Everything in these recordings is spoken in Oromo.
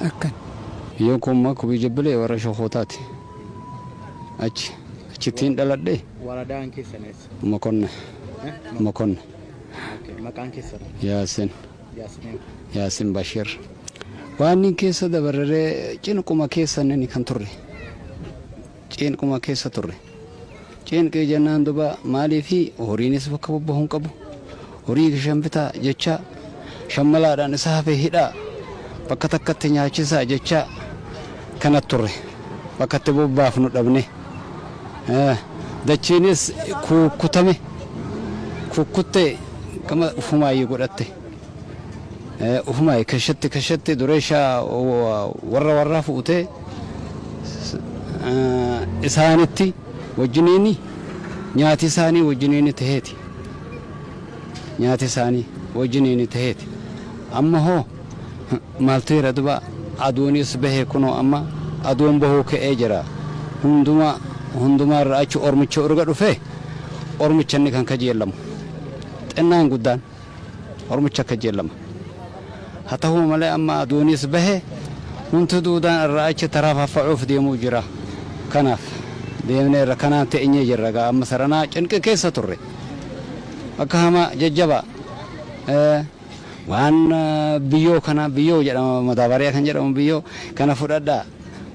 akkan Biyyoon koo ammaa kubii jabbilee warra shokootaati. Achi achittiin dhaladhe Waradaan keessan eessa? mokonna Eh? mokonna Okay. Maqaan keessan yaasin Yaasmin. yaasin bashir. Waan inni keessa dabarree cinquma keessa inni kan turre. Ciinquma keessa turre. Ciinqii jennaan duba maaliifi horiinis bakka bobbahu hin qabu. Horii kishan bitaa jechaa shammalaadhaan isa hafe hidhaa bakka takkatti nyaachisaa jechaa kana turre. Bakka itti bobbaafnu dhabne. Dachiinis kuukkutame. Kuukkuttee gama ufumaayyu godhatte. Ufumayi keshatti keshatti duresha warra warraa fu'utee isaanitti wajjiniini nyaati isaanii wajjiniini taheeti. Nyaati isaanii wajjiniini taheeti. Amma hoo maaltu jira duba aduunis bahe kunoo amma aduun bahuu ka'ee jira. Hunduma hundumaa irra achi ormicha urga dhufee ormicha inni kan kajeellamu. Xinnaan guddaan. Ormicha kajeellama. Haa tahu malee amma aduunis bahe hunduu duudaan irraa achi tarafaffa'uuf deemuu jira. Kanaaf deemneerra kanaan teenyee jirra egaa amma saranaa cinqii keessa turre. Akka hamaa jajjabaa. Ee. Waan biyyoo kana biyyoo jedhama madaabaariyaa kan jedhamu biyyoo kana fudhadhaa.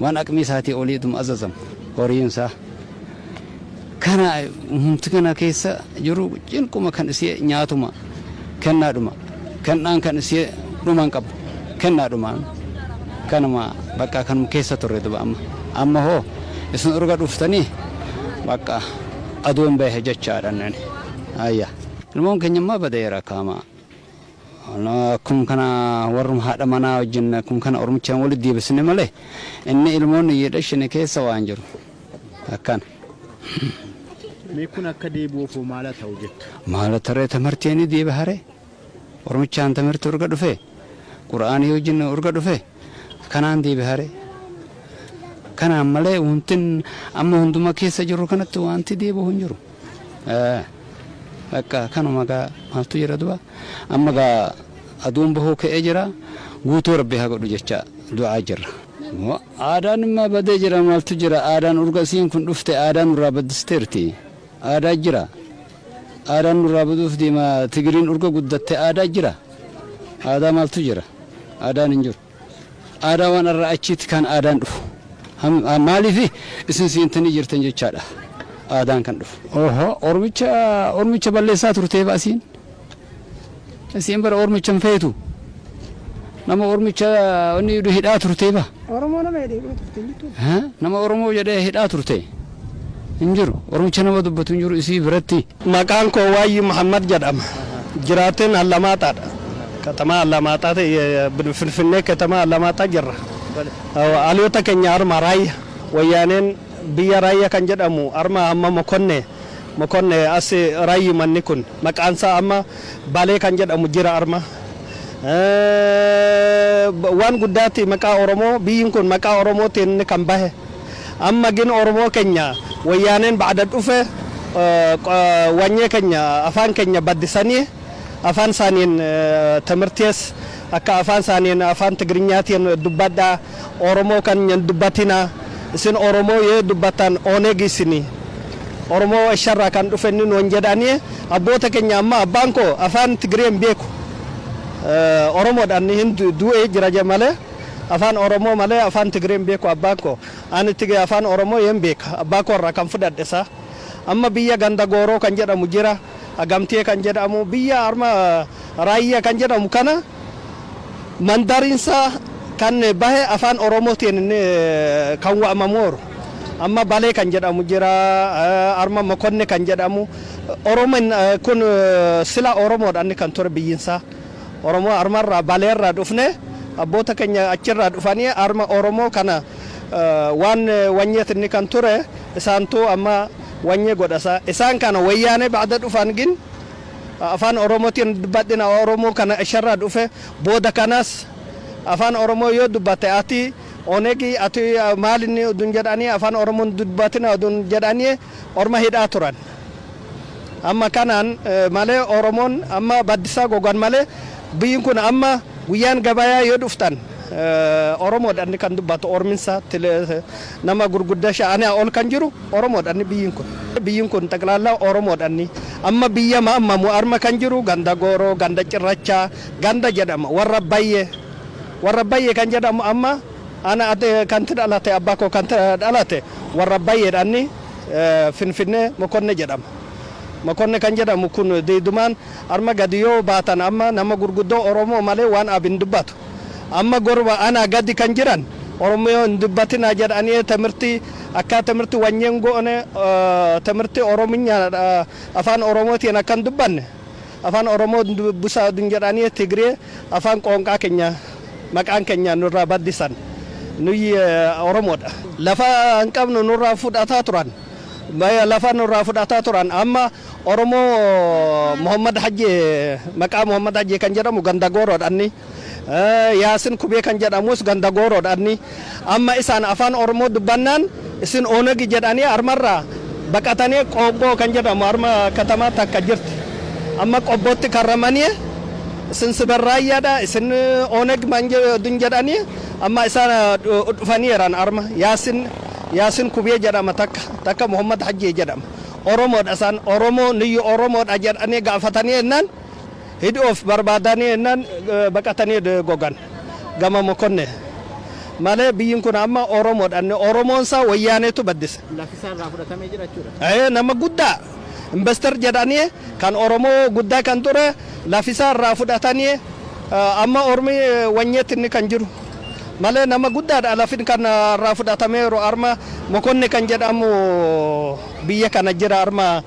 waan aqmii isaatii olii ituma azazamu horiin isaa kana humti kana keessa jiru cinquma kan isii nyaatuma kennaadhuma kennaan kan isii dhuman qabu kennaadhumaan kanuma bakka kanuma keessa turre duba amma amma hoo isin urga dhuftanii bakka aduun bahe jechaadha nani ayya ilmoon keenya ammaa badeera kaamaa Akkuma kana warruma haadha manaa wajjin akkuma kana ormichaan walitti deebisne malee inni ilmoonni iyyuu dhashine keessa waan jiru akkana. Mee kun akka deebi'uuf hoo maala ta'u jettu? Maala taree tamartii ni deebi'are ormichaan tamartii urga dhufe qura'aanii wajjin urga dhufe. Kanaan deebihare. Kanaan malee wantin amma hunduma keessa jirru kanatti wanti deebi'u hin jiru. Bakka kanuma gaa maaltu jira du'a. Amma gaa aduun bahuu ka'ee jira. Guutuu rabbi haa godhu jecha du'aa jirra. Aadaan immaa badee jira maaltu jira aadaan urga isiin kun dhufte aadaa nurraa baddisteerti. Aadaa jira. Aadaan nurraa baduuf deema. Tigiriin urga guddatte aadaa jira. Aadaa maaltu jira? Aadaan hin jiru. Aadaa waan arraa achiitti kan aadaan dhufu. Maaliif isin seentanii jirtan jechaadha aadaan kan dhufu. Oho ormicha ormicha balleessaa turteef asiin. Isiin bara ormicha hin feetu. Nama ormicha inni idu hidhaa turtee ba. Oromoo nama jedhee hidhaa turte hin jirtu. Ha? Nama Oromoo jedhee hidhaa turte hin jiru. Oromicha nama dubbatu hin jiru isii biratti. Maqaan koo Waayyi Mahammad jedhama. Jiraateen Allamaaxaadha. Katamaa Allamaaxaa ta'e Finfinnee katamaa Allamaaxaa jirra. Dhaloota keenya Harma Raayya. Wayyaaneen biyya Raayya kan jedhamu Harma Amma Mokonne Mokonne as rayyi manni kun maqaansaa amma balee kan jedhamu jira arma waan guddaatti maqaa oromoo biyyin kun maqaa oromootiin kan bahe amma gin oromoo kenya wayyaaneen ba'ada dhufe wanyee kenya afaan kenya baddisanii afaan isaaniin timirtees akka afaan isaaniin afaan tigrinyaatiin dubbadhaa Oromoo kan hin dubbatina isin oromoo yoo dubbatan oneg isini oromoo warsha irraa kan dhufe inni nuun jedhani abboota keenya amma abbaan koo afaan tigiree hin beeku oromoodhaan hin du'ee jira je malee afaan oromoo malee afaan tigiree hin beeku abbaan koo ani tige afaan oromoo yeen beeka abbaa koo irraa kan fudhadhe isaa amma biyya ganda gooroo kan jedhamu jira agamtee kan jedhamu biyya arma Raayyaa kan jedhamu kana mandariinsaa kan bahe afaan Oromootiin kan waamamooru. Amma Balee kan jedhamu jira, arma Mokonne kan jedhamu. Oromin kun sila Oromoodha inni kan ture biyyiinsaa. Oromoo armarraa Baleerraa dhufne abboota keenya achirraa dhufanii arma Oromoo kana waan wanyeet inni kan ture isaantuu amma wanyee godhasaa. Isaan kana wayyaanee ba'da dhufan gin Afaan Oromootiin badhina Oromoo kana isherraa dhufe booda kanas Afaan Oromoo yoo dubbatte ati Onegi ati maali ni odun jedhanii Afaan Oromoo hin dubbatina odun jedhanii orma hidhaa turan. Amma kanaan malee Oromoon amma baddisaa gogan malee biyyin kun amma guyyaan gabayaa yoo dhuftan Oromoodha inni kan dubbatu orminsa nama gurgudda sha'anaa ol kan jiru. Oromoodhanni biyyin kun. Biyyin kun xaqlaallaa Oromoodhanni. Amma biyya maammamu arma kan jiru ganda Gooroo, ganda Cirrachaa, ganda jedhama warra Bayyee. Warra Bayyee kan jedhamu amma ana ati kan itti dhalate abbaa koo kan itti dhalate warra Bayyeedhanni Finfinnee Mokonne jedhama. Mokonne kan jedhamu kun diidumaan arma gadi yoo baatan amma nama gurguddoo Oromoo malee waan ab hin dubbatu. Amma gorba anaa gadi kan jiran Oromoo hin dubbatinaa jedhaniee timirtii akkaa timirti wanyen goone timirti orominya afaan oromotiin akka hin dubbanne afaan oromoo dubbisaa dun jedhaanii tigiree afaan qoonqaa kenya maqaan kenya nurraa baddisan nuyyi oromoodha lafa hin qabnu nurraa fudhataa turan lafa nurraa fudhataa turan amma oromoo mohammad hajji maqaa mohammad hajji kan jedhamu ganda gooroodhanni Yaasin Kubee kan jedhamus ganda Gooroo dha. Amma isaan Afaan Oromoo dubbannaan isin Onagi jedhanii harmarraa baqatanii Qoobboo kan jedhamu harma katamaa takka jirti. Amma Qobbootti karramanii isin Siber Raayyaa dha, isin Onag manjedun jedhanii amma isaan dhufanii jiran harma. Yaasin Yaasin Kubee jedhama takka, takka Muhammad Hajjee jedhama. Oromoo dha isaan. Oromoo nuyyu Oromoo dha jedhanii gaafatanii jennaan. Hid of barbaadani ennan baqatani ed gogan gama mokonne male biyyin kun amma oromodha inni oromoon isaa wayyaaneetu baddise. Lafi isaa irraa fudhatamee jira jechuudha. Ee nama guddaa investor jedhanii kan oromoo guddaa kan ture lafi isaa irraa fudhatanii amma ormi wanyeetti inni kan jiru malee nama guddaadha lafin kan irraa fudhatameeru arma mokonne kan jedhamu biyya kana jira arma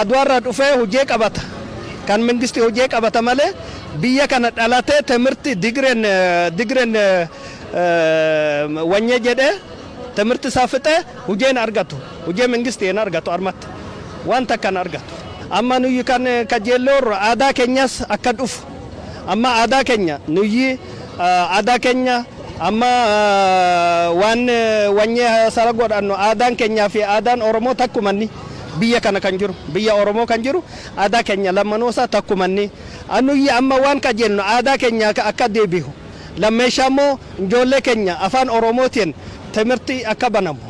Aduwarra dhufee hujee qabata kan mengsti hujee qabata malee biyya kana dhalatee temirti digren digren wanye jedhee temirti isaa fixe hujee hin argatu hujee mengsti hin argatu armatti wan takka hin argatu amma nuyyi kan kajeelloorra aadaa kenyas akka dhufu Amma aadaa kenya nuyyii aadaa kenya amma waan wanyee sara godhannu aadaan kenyaa fi aadaan Oromoo takkumanni biyya kana kan jiru biyya Oromoo kan jiru aadaa kenya lammanuu isaa takkumanni nuyyi amma waan qajeelnu aadaa kenya akka deebihu lammeeshaa immoo ijoollee kenya afaan Oromootiin timirti akka banamu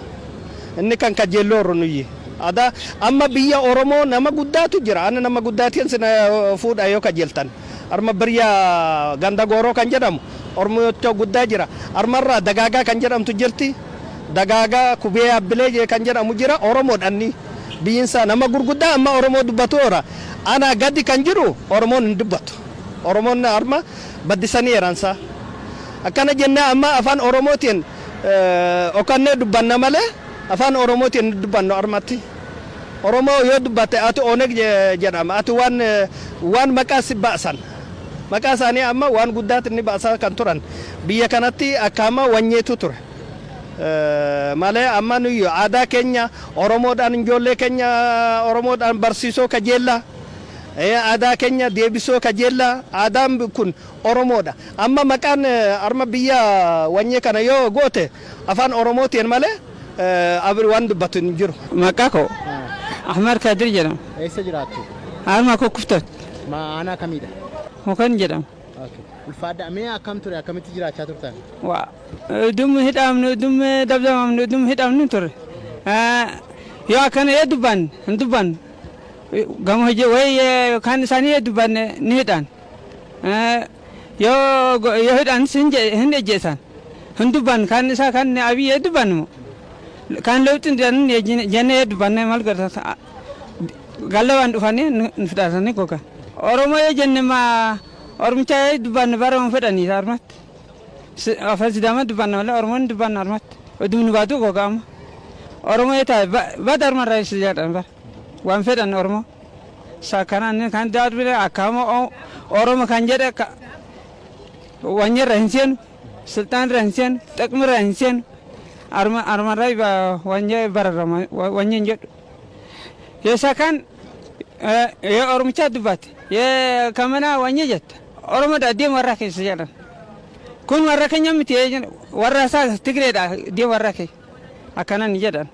Inni kan kajjeelloo horru nuyyi. Ada, amma biyya Oromoo nama guddaatu jira. Ana nama guddaatian sina fuudha yoo kajeltan. Arma birya Ganda Gooroo kan jedhamu Ormocha guddaa jira. Armarraa Dagaagaa kan jedhamtu jirti. Dagaagaa Kubee Abbilee kan jedhamu jira. Oromodha inni. Biyinsaa nama gurguddaa amma Oromoo dubbatu ora. Anaa gadi kan jiru Oromoon hin dubbatu. Oromoon arma baddisanii eransaa. Akkana jennee amma afaan Oromootiin. dhokannee dubbanna malee afaan oromootiin hin dubbannu armatti. Oromoo yoo dubbatte ati Oneg jedhama ati waan waan maqaa si baasan maqaa isaanii amma waan guddaatti ni baasaa kan turan biyya kanatti akka amma wanyeetu ture. malee amma nuyi aadaa keenya Oromoodhaan ijoollee keenya Oromoodhaan barsiisoo kajeellaa aadaa keenya deebisoo kajeellaa aadaan kun Oromoo dha. Amma maqaan arma biyya wanyee kana yoo goote afaan oromootiin malee abri waan dubbatu hin jiru. Maqaa koo Ahmad Kadir jedhama. Eessa jiraattu? Harma Kukkuftoot. Ma aanaa kamii dha? Mukan jedhama. Okay. Ulfaadha. Mee akkam ture? Akkamitti jiraachaa turtan? Wa udum hidhamnu udum dabdamamnu udum hidhamnu ture. Yoo akkana yoo dubbanne hin dubbannu. Gama hojii wayii kan isaanii yoo dubbanne ni hidhan. Yoo yoo hidhan sin je- hin ejjeesan. Hin dubban kan isaa kan abiy ee dubban mo. Kan lewxi hin ejjine jenne ee dubbanne mal godha. Gallawan dhufanii nu fixatanii gogan. Oromoo ee jenne ma ormicha ee dubbanne bara hin fedhanii isa armatti. Si- Afaan sidaama dubbanna malee oromoo hin dubbanna armatti. Oduu nu baatu goga amma. Oromoo ee taa'e ba- bada armarraa ibsi jedhan bara. Waan fedhan oromoo. Sakkanani kan darbine akkama oromo kan jedhe wanyirra hin seenu silxaanirra hin seenu xiqmirra hin seenu arma armarra wanya bararra wanya hin jedhu ye sakan ye oromicha dubbate ye kamana wanya jetta oromo da deem warra keessa jedhan kun warra keenya miti warra isaa tigreedha deem warra keenya Akkanan jedhan.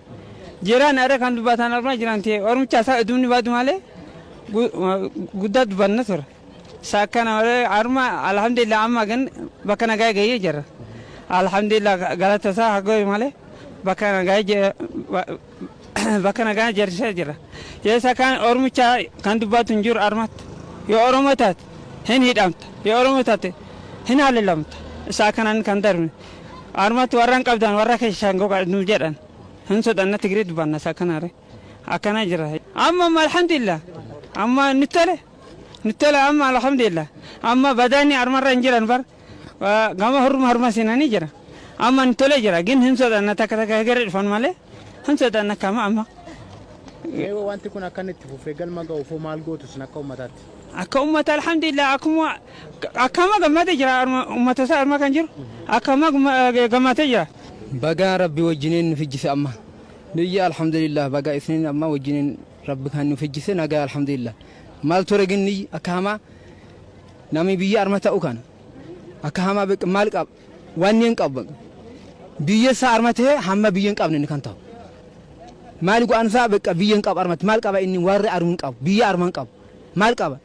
Jiraan ara kan dubbatan armaa jiran ta'e ormicha isaa idumni baadu malee guddaa dubbanna ture. Isa akkana malee arma alhamdulillah amma gan bakka nagaa gahee jira. Alhamdulillah galata isaa haa gahu malee bakka nagaa bakka nagaa jarrisaa jira. Yeessa kan ormicha kan dubbatu hin jiru armatti. Yoo oromoo taate hin hidhamta. Yoo oromoo taate hin haleelamta. Isa akkanaan kan darbe. Armatti warra hin qabdan warra keessan goga nu jedhan. Hin sodanna Tigiree dubbanna isa kanare. Akkana jira. Amma amma alhamdulillah. Amma nu tole. Nu tole amma alhamdulillah. Amma badaanni armarra hin jiran bar. Gama horma horma sinanii jira. Amma nu tole jira. Gin hin sodanna takka takka hegere dhufan malee. Hin sodaanne akka amma amma. Mee wanti kun akka inni itti fufee galma ga'uuf hoo maal gootu isin akka uummataatti? Akka uummata alhamdulillah akkuma akkama gammadee jira arma- uummata isaa arma kan jiru akkama gumma- gammadee jira. Bagaa rabbi wajjiniin nu fijjise amma. Nuyya alhamdulillah bagaa isiniin amma wajjiniin rabbi kan nu fijjise nagaa alhamdulillah. Maal ture ginni akka hamaa namni biyya arma ta'u kana akka hamaa beek- maal qaba. Wanni hin qabu bakka. Biyya isaa arma ta'e hamma biyya hin qabne inni kan ta'u. Maali go'aan isaa bakka biyya hin qabu armatti maal qaba inni warri armu hin qabu biyya arma hin qabu maal qaba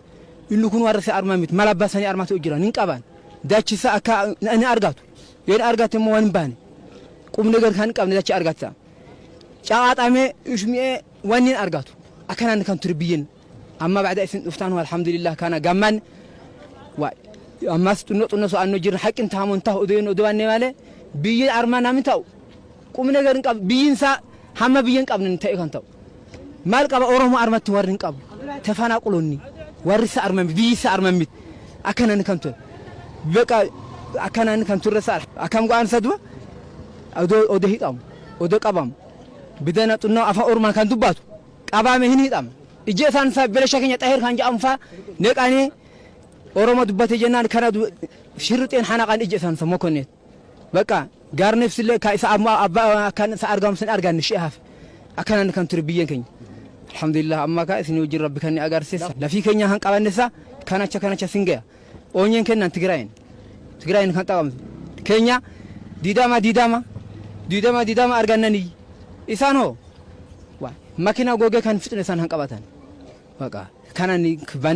inni kun warri isaa arma miti maal abbaa sanii arma ta'u jiran hin qaban dachi isaa akka inni argatu yoo inni argate immoo waan hin baane qubni gar kan hin qabne dachi argata caqaaxamee ishmi'ee waan hin argatu akkanaan kan ture biyyan Amma ba'da isin dhuftaan alhamdulillah kana gamman ammas xunno xunno so'anno jirna haqqin taamun tahu uduun uduwanne malee biyyi arma namni ta'u qubne garin qab biyyin isaa hamma biyyin qabne ta'e kan ta'u maal qaba oromo armatti warri hin qabu tefanaa qulonni warri isa arma biyyi isa arma mit akkanan kan ture beqa akkanan kan turre isaa akkam go'aan isa du'a odo odo hidhamu odo qabamu bidana xunno afaan oromaan kan dubbatu qabaame hin hidhama. Ijjeesaan isaa Belasha keenya Xaheer kan jedhamu faa neqanii Oromo dubbate jennaan kana du- shirrixeen hanaqan ijjeesaan isa mokonneet. Bakka gaarneefsi illee kan isa amma abbaa akkan isa argamu sin arganne shi'ee hafe. Akkanaan kan ture biyyeen keenya. Alhamdulillah amma kaa isin wajjin rabbi kan ni agarsiisa. Lafii keenya kan qabanne isaa kan acha kan acha sin gaya. Oonyeen kennaan Tigiraayin Tigiraayin kan qabamtu keenya diidama diidama diidama diidama argannanii isaan hoo waa makina gogee kan fixne isaan kan qabatan baqa kanan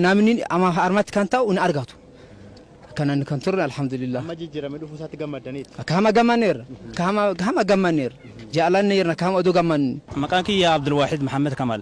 namni ama harmatti kan ta'u hin argatu kanan kan turre alhamdulillah Amma jijjiirame dhufuu isaatti gammaddaniitti. kama gammanneerra kama kama gammanneerra jaalanneerra kama oduu gammanne Maqaan kiyya Abdulwaahid Mahammad Kamal.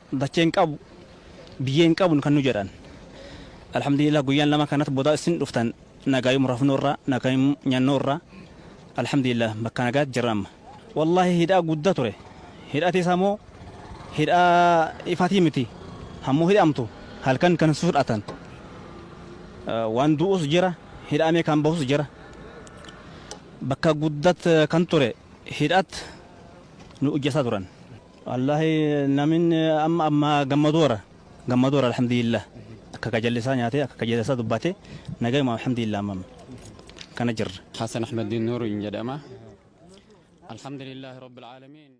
Dachee hin qabu biyyee hin qabnu kan nu jedhan Alhamdulillah guyyaan lama kanat bodaa issin dhuftan nagaayum rafnu irra nagaayum nyannu irra Alhamdulillah bakka nagaat jirra amma. Wallahi hidhaa gudda ture hidhati isa moo hidhaa ifati miti hammu hidhamtu halkan kan si fudhatan waan du'us jira hidhaamee kan bahus jira bakka guddat kan ture hidhat nu ujjesa turan. Wallahi namin amma amma gammadoora gammadoora alhamdulillah akka kajallisaa nyaatee akka kajallisaa dubbatee nagayuma alhamdulillah amma kana jirra. Hassan Ahmeddiin Nuuriin jedhama. Alhamdulillah Rabbil Aalamiin.